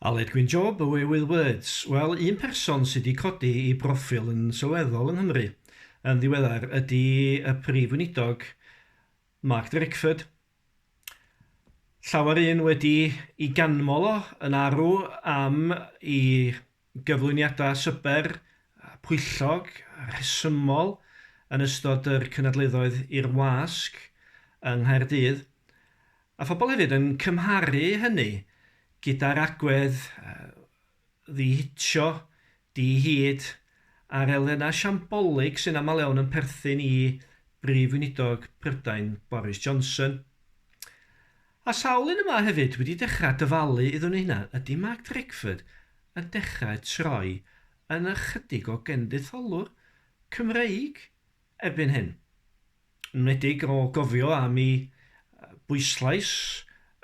Aled Gwyn Job, Away With Words. Wel, un person sydd wedi codi i broffil yn sylweddol yng Nghymru yn ddiweddar ydy y Prif Weinidog Mark Drakeford. Llawer un wedi i ganmol o yn arw am i gyflwyniadau swper a phwyllog a rhesymol yn ystod yr cynadleddoedd i'r wasg yng Nghaerdydd, a phobl hefyd yn cymharu hynny gyda'r agwedd ddi-hitio, di-hid a'r elfennau siambolig sy'n aml iawn yn perthyn i Brif Weinidog Prydain Boris Johnson. A sawl un yma hefyd wedi dechrau dyfalu iddyn nhw hunan? Ydy Mark Drakeford yn dechrau troi yn ychydig o genditholwr Cymreig erbyn hyn? Yn enwedig o gofio am i bwyslais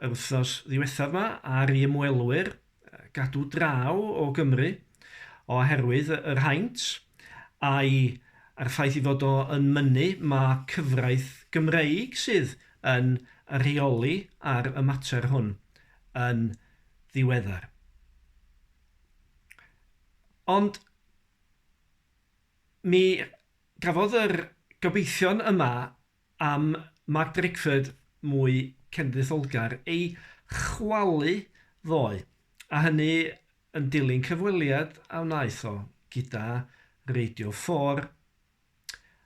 yr wythnos ddiwethaf 'ma ar i ymwelwyr gadw draw o Gymru oherwydd yr haint a'i a'r ffaith ei fod o yn mynnu ma' cyfraith Gymreig sydd yn rheoli ar y mater hwn yn ddiweddar. Ond mi gafodd yr gobeithion yma Am Mark Drakeford mwy cenedlaetholgar ei chwalu ddoe, a hynny yn dilyn cyfweliad a wnaeth o gyda Radio Four.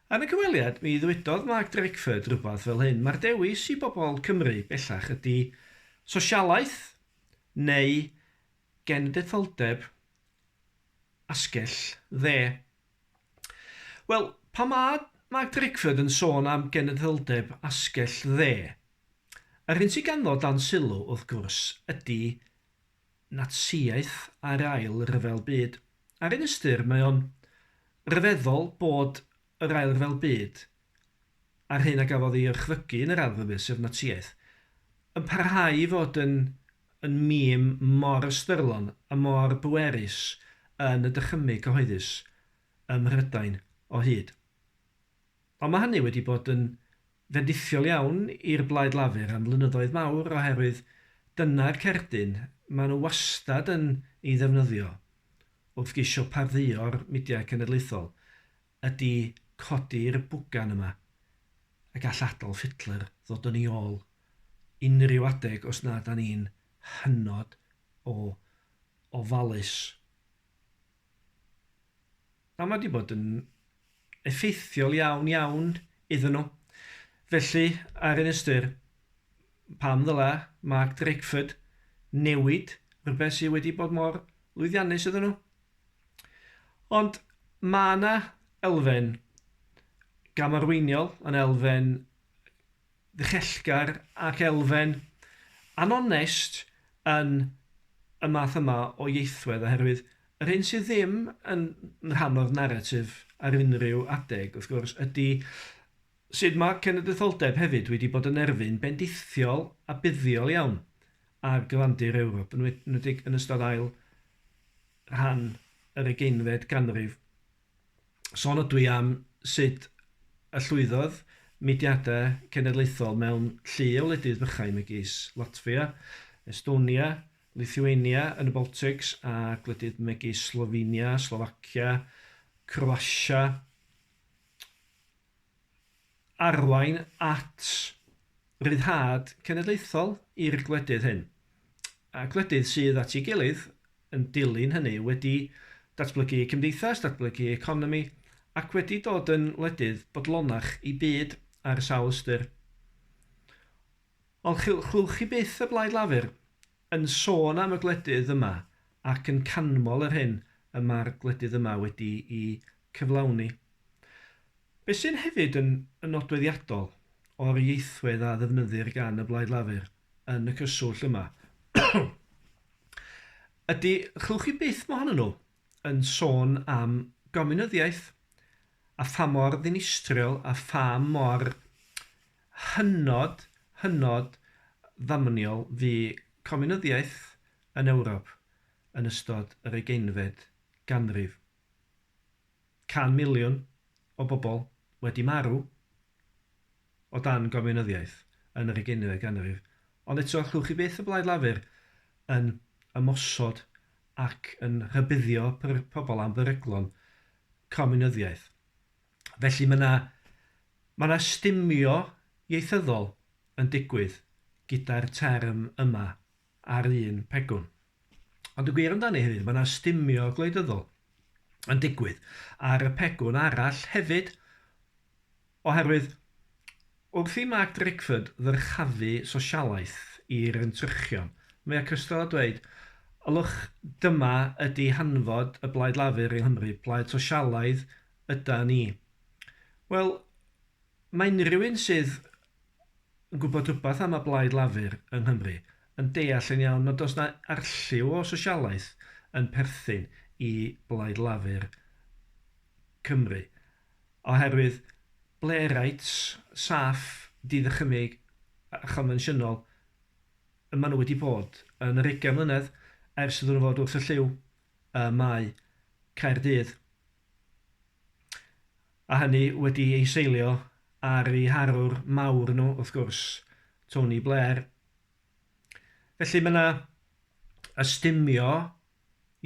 Yn y cyfweliad, mi ddwedodd Mark Drakeford rywbeth fel hyn, Mae'r dewis i bobl Cymru bellach ydi sosialaeth neu genedlaetholdeb asgell dde. Wel, pan mae Mark Drakeford yn sôn am genedldeb asgell dde, yr hyn sydd ganddo dan sylw, wrth gwrs, ydy Natsïaeth a'r Ail Ryfel Byd. Ar un ystyr, mae o'n ryfeddol bod yr Ail Ryfel Byd, a'r hyn a gafodd ei orchfygu yn yr Ail Ryfel Byd, sef Natsïaeth, yn parhau i fod yn yn mîm mor ystyrlon a mor bwerus yn y dychymyg cyhoeddus ym Mhrydain o hyd. Ond mae hynny wedi bod yn fendithiol iawn i'r Blaid Lafur am flynyddoedd mawr oherwydd dyna'r cerdyn maen nhw wastad yn ei ddefnyddio wrth geisio pardduo'r midiau cenedlaethol ydi codi'r bwgan yma a gall Adolf Hitler ddod yn ei ôl unrhyw adeg os nad dan ni'n hynod o ofalus. A mae wedi bod yn effeithiol iawn iawn iddyn nhw. Felly, ar un ystyr, pam ddyla Mark Drakeford newid rhywbeth sydd wedi bod mor lwyddiannus iddyn nhw? Ond mae yna elfen gamarweiniol, yn elfen ddichellgar ac elfen anonest yn y math yma o ieithwedd oherwydd yr hyn sydd ddim yn rhan o'r naratif ar unrhyw adeg, wrth gwrs, ydy sut mae cenedlaetholdeb hefyd wedi bod yn erfyn bendithiol a buddiol iawn ar gyfandir Ewrop, yn enwedig yn ystod ail rhan yr ugeinfed ganrif. Sôn ydw i am sut y llwyddodd mudiadau cenedlaethol mewn llu o wledydd bychain megis Latfia, Estonia, Lithuania yn y Baltics a gwledydd megis Slofenia, Slofacia, Croatia, arwain at ryddhad cenedlaethol i'r gwledydd hyn, a gwledydd sydd at ei gilydd yn dilyn hynny, wedi datblygu eu cymdeithas, datblygu eu economi, ac wedi dod yn wledydd bodlonach i byd ar sawl ystyr. Ond chewch chi byth y blaid lafur Yn sôn am y gwledydd yma ac yn canmol yr hyn y mae'r gwledydd yma wedi'i cyflawni. Be sy'n hefyd yn yn nodweddiadol o'r ieithwedd a ddefnyddir gan y Blaid Lafur yn y cyswllt yma ydy, chewch chi byth mohonyn nhw yn sôn am gominyddiaeth a pha mor ddinistriol a pha mor hynod, hynod ddamniol fu Cominyddiaeth yn Ewrop yn ystod yr ugeinfed ganrif. Can miliwn o bobl wedi marw o dan Gominyddiaeth yn yr ugeinfed ganrif, ond eto allwch chi byth y Blaid Lafur yn ymosod ac yn rhybuddio pobl am beryglon Cominyddiaeth. Felly mae 'na, mae 'na stumio ieithyddol yn digwydd gyda'r term yma ar un pegwn. Ond y gwir amdani hefyd, mae 'na stumio gwleidyddol yn digwydd ar y pegwn arall hefyd, oherwydd wrth i Mark Drakeford ddyrchafu sosialaeth i'r entrychion, mae o cystal â dweud, ylwch, dyma ydi hanfod y Blaid Lafur yng Nghymru, plaid sosialaidd, yda ni? Wel, mae unrhyw un sydd yn gwybod rhywbeth am y Blaid Lafur yng Nghymru yn deall yn iawn nad oes yna arlliw o sosialaeth yn perthyn i Blaid Lafur Cymru, oherwydd Blairites saff, diddychymyg a chonfensiynol y maen nhw wedi bod yn yr ugain mlynedd ers iddyn nhw fod wrth y llyw. y Mae, Caerdydd, a hynny wedi ei seilio ar eu harwr mawr nhw, wrth gwrs, Tony Blair. Felly mae yna ystumio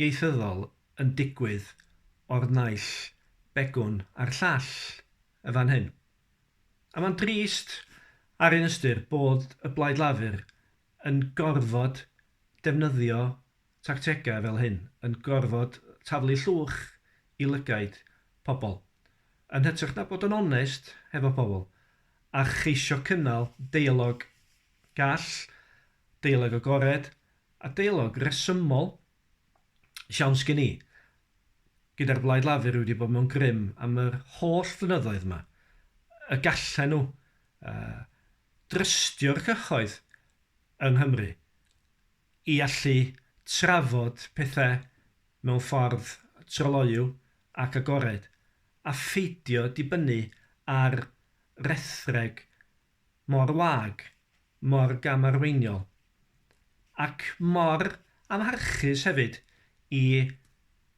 ieithyddol yn digwydd o'r naill begwn a'r llall yn fan hyn. A mae'n drist ar un ystyr bod y Blaid Lafur yn gorfod defnyddio tactegau fel hyn yn gorfod taflu llwch i lygaid pobl, yn hytrach na bod yn onest hefo pobl a cheisio cynnal deialog gall, deialog agored a deialog resymol. Siawns gen i, gyda'r Blaid Lafur wedi bod mewn grym am yr holl flynyddoedd 'ma, y gallen nhw drystio'r cyhoedd yng Nghymru i allu trafod pethau mewn ffordd tryloyw ac agored, a pheidio dibynnu ar rethreg mor wag, mor gamarweiniol, ac mor amharchus hefyd i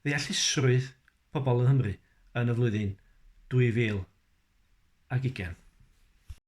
ddeallusrwydd pobl yng Nghymru yn y flwyddyn 2020.